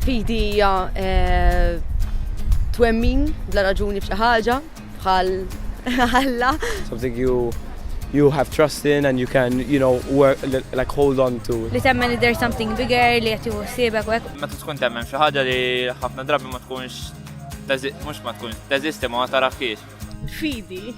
Fidi hija eh, twemmin bla raġuni f'xi ħaġa bħal Alla. Something you you have trust in and you can, you know, work, like hold on to. Li temmen li there's something bigger li jati uħsibek u Ma tkun temmen xi ħaġa li ħafna drabi ma tkunx mhux ma tkunx teżisti ma taraħkiex. Fidi.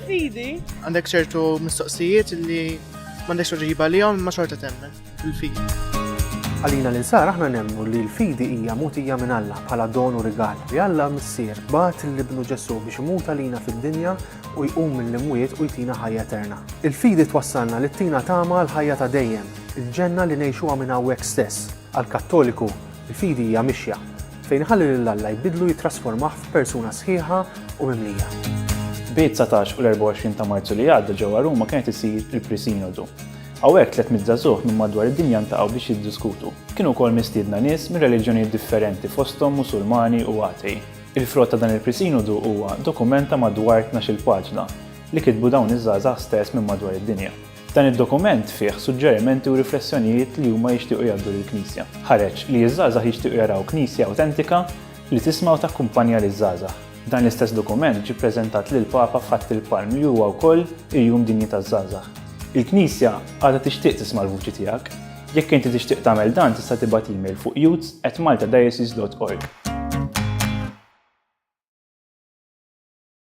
Fidi. Għandek ċertu mistoqsijiet li m'għandekx uġiba li ma xorta temmen fil-fidi. Għalina l-insar aħna nemmu li l-fidi hija mutija minn Alla bħala don u rigal li Alla missier bat l-ibnu Ġesu biex imut għalina fid-dinja u jqum mill-imwiet u jtina ħajja eterna. Il-fidi twassalna li tina tama l-ħajja ta' dejjem, il-ġenna li ngħixuha minn hawnhekk stess. Għall-Kattoliku, il-fidi hija mixja, fejn iħalli lil Alla jbiddlu jittrasformah f'persuna sħiħa u mimlija. Bit-19 u l-24 ta' Marzu li għadda ġewwa Ruma kien qed isir il-Pre-Sinodu. Hawnhekk 300 żagħżugħ minn madwar id-dinja ltaqgħu biex jiddiskutu. Kienu wkoll mistiedna nies minn reliġjonijiet differenti fosthom Musulmani u Atei. Il-frott ta' dan il-Pre-Sinodu huwa dokument ta' madwar tnax-il paġna li kitbu dawn iż-żgħażagħ stess minn madwar id-dinja. Dan id-dokument fih suġġerimenti u riflessjonijiet li huma jixtiequ jgħaddu lill-Knisja. Ħareġ li ż-żgħażagħ jixtiequ jaraw Knisja awtentika li tisma' u takkumpanja liż-żgħażagħ. Dan l-istess dokument ġie ppreżentat lill-Papa f'Ħadd il-Palm li huwa wkoll il-Jum Dinji taż-Żgħażagħ. Il-Knisja għadha tixtieq tisma' l-vuċi tiegħek. Jekk inti tixtieq tagħmel dan tista' tibgħat email fuq youths at maltadiocese dot org.